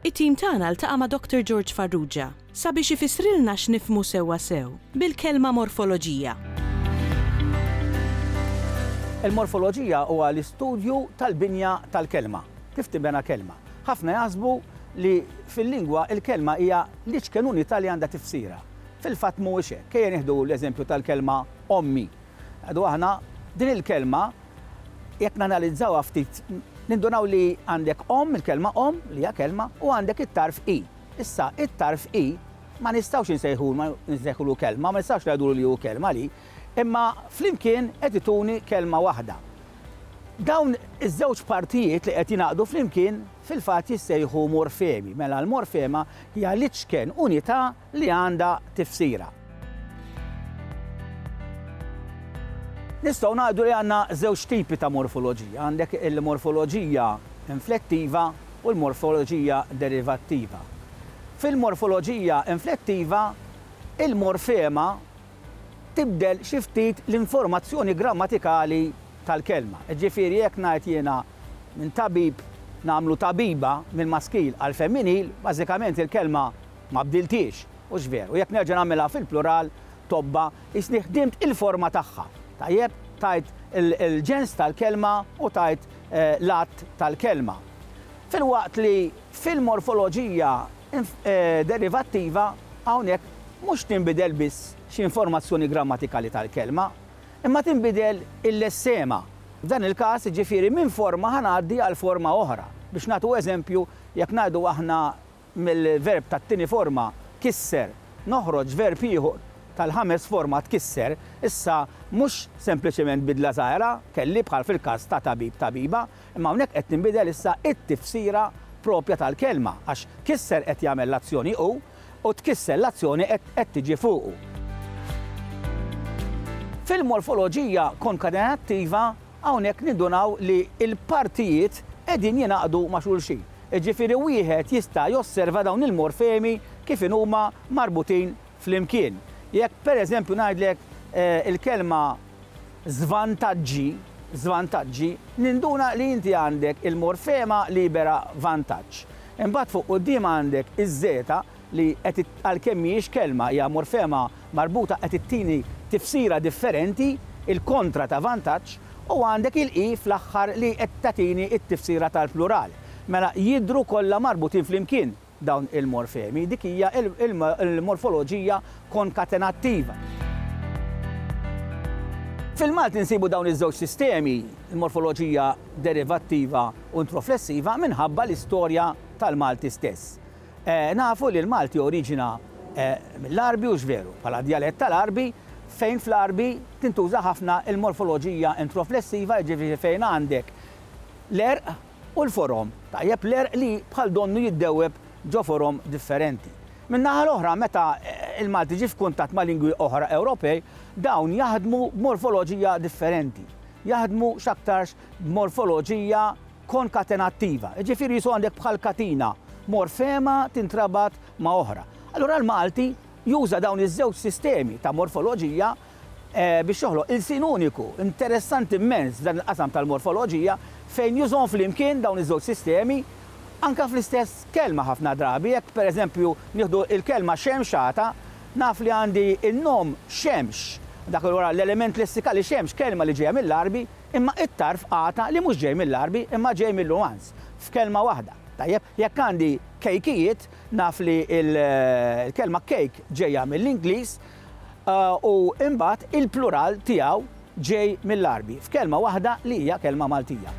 It-tim tagħna ltaqa' ma' Doctor George Farrugia sabiex ifissrilna x'nifhmu sewwa sew bil-kelma morfoloġija. Il-morfoloġija huwa l-istudju tal-binja tal-kelma, kif tinbena kelma. Ħafna jaħsbu li fil-lingwa l-kelma hija l-iċken unità li għandha tifsira. Fil-fatt mhuwiex hekk. Ejja nieħdu l-eżempju tal-kelma ommi. Għadu aħna, din il-kelma jekk nanalizzawha ftit nindunaw li għandek omm, il-kelma omm li hija kelma, u għandek it-tarf i. Issa, it-tarf i ma nistgħux insejħu, nsejħulu kelma, ma nistgħux ngħidulu li hu kelma li, imma flimkien qed ituni kelma waħda. Dawn iż-żewġ partijiet li qed jingħaqdu flimkien fil-fatt jissejħu morfemi. Mela l-morfema hija l-iċken unità li għandha tifsira. Nistgħu ngħidu li għandna żewġ tipi ta' morfoloġija, għandek il-morfoloġija inflettiva u l-morfoloġija derivattiva. Fil-morfoloġija inflettiva, il-morfema tibdel xi ftit l-informazzjoni grammatikali tal-kelma. Jiġifieri jekk ngħid jiena minn tabib nagħmlu tabiba mill-maskil għall-femminil, bażikament il-kelma Ma bdilthiex, hux veru? Jekk nerġa' nagħmilha fil-plural, tobba, qisni ħdimt il-forma tagħha. Tajjeb, tajt il-ġens tal-kelma u tajt l-għadd tal-kelma. Filwaqt li fil-morfoloġija derivattiva hawnhekk mhux tinbidel biss xi informazzjoni grammatikali tal-kelma, imma tinbidel il-lessema. F'dan il-każ, jiġifieri minn forma ħa ngħaddi għal forma oħra. Biex nagħtu eżempju, jekk ngħidu aħna mill-verb tat-tieni forma kisser noħroġ verb ieħor tal-ħames forma tkisser, issa mhux sempliċement bidla żgħira, kelli, bħal fil-każ ta' tabib, tabiba, imma hawnhekk qed tinbidel issa t-tifsira proprja tal-kelma, għax kisser qed jagħmel l-azzjoni hu, u tkisser l-azzjoni qed tiġi fuqu. Fil-morfoloġija konkatenattiva hawnhekk nindunaw li l-partijiet qegħdin jingħaqdu ma' xulxin. Jiġifieri wieħed jista' josserva dawn il-morfemi kif inhuma marbutin flimkien. Jekk pereżempju ngħidlek il-kelma żvantaġġi, żvantaġġi, ninduna li inti għandek il-morfema libera vantaġġ. Imbagħad fuq quddiem għandek iż-żeta li qed għalkemm mhijiex kelma hija morfema marbuta qed ittini tifsira differenti, il-kontra ta' vantaġġ, u għandek il-i fl-aħħar li qed tagħtini t-tifsira tal-plural. Mela jidhru kollha marbutin flimkien dawn il-morfemi. Dik hija l-morfoloġija konkatenattiva. Fil-Malti nsibu dawn iż-żewġ sistemi, il-morfoloġija derivattiva u introflessiva, minħabba l-istorja tal-Malti stess. Nafu li l-Malti oriġina mill-Għarbi hux veru, bħala djalett tal-Għarbi, fejn fl-Għarbi tintuża ħafna l-morfoloġija introflessiva, jiġifieri fejn għandek l-għerq u l-forom, tajjeb, l-għerq li bħal donnu jiddewweb ġo forom differenti. Min-naħa l-oħra, meta l-Malti ġie f'kuntatt ma' lingwi oħra Ewropej, dawn jaħdmu b'morfoloġija differenti, jaħdmu x'aktarx b'morfoloġija konkatenattiva, jiġifieri jisu għandek bħal katina, morfema tintrabat ma' oħra. Allura l-Malti juża dawn iż-żewġ sistemi ta' morfoloġija biex joħloq ilsien uniku. Interessanti mmens f'dan il-qasam tal-morfoloġija fejn jużhom flimkien dawn iż-żewġ sistemi anke fl-istess kelma ħafna drabi. Jekk pereżempju nieħdu l-kelma xemxata, naf li għandi n-nom xemx, dak allura l-element lessikali xemx, kelma li ġejja mill-Għarbi, Imma it-tarf qata' li mhux ġej mill-Għarbi imma ġej mil-Luhansk. F'kelma waħda. Tajjeb, jekk għandi kejkijiet, naf li l-kelma cake ġejja mill-Ingliż u imbagħad il-plural tiegħu ġej mill-Għarbi. F'kelma waħda li hija kelma Maltija.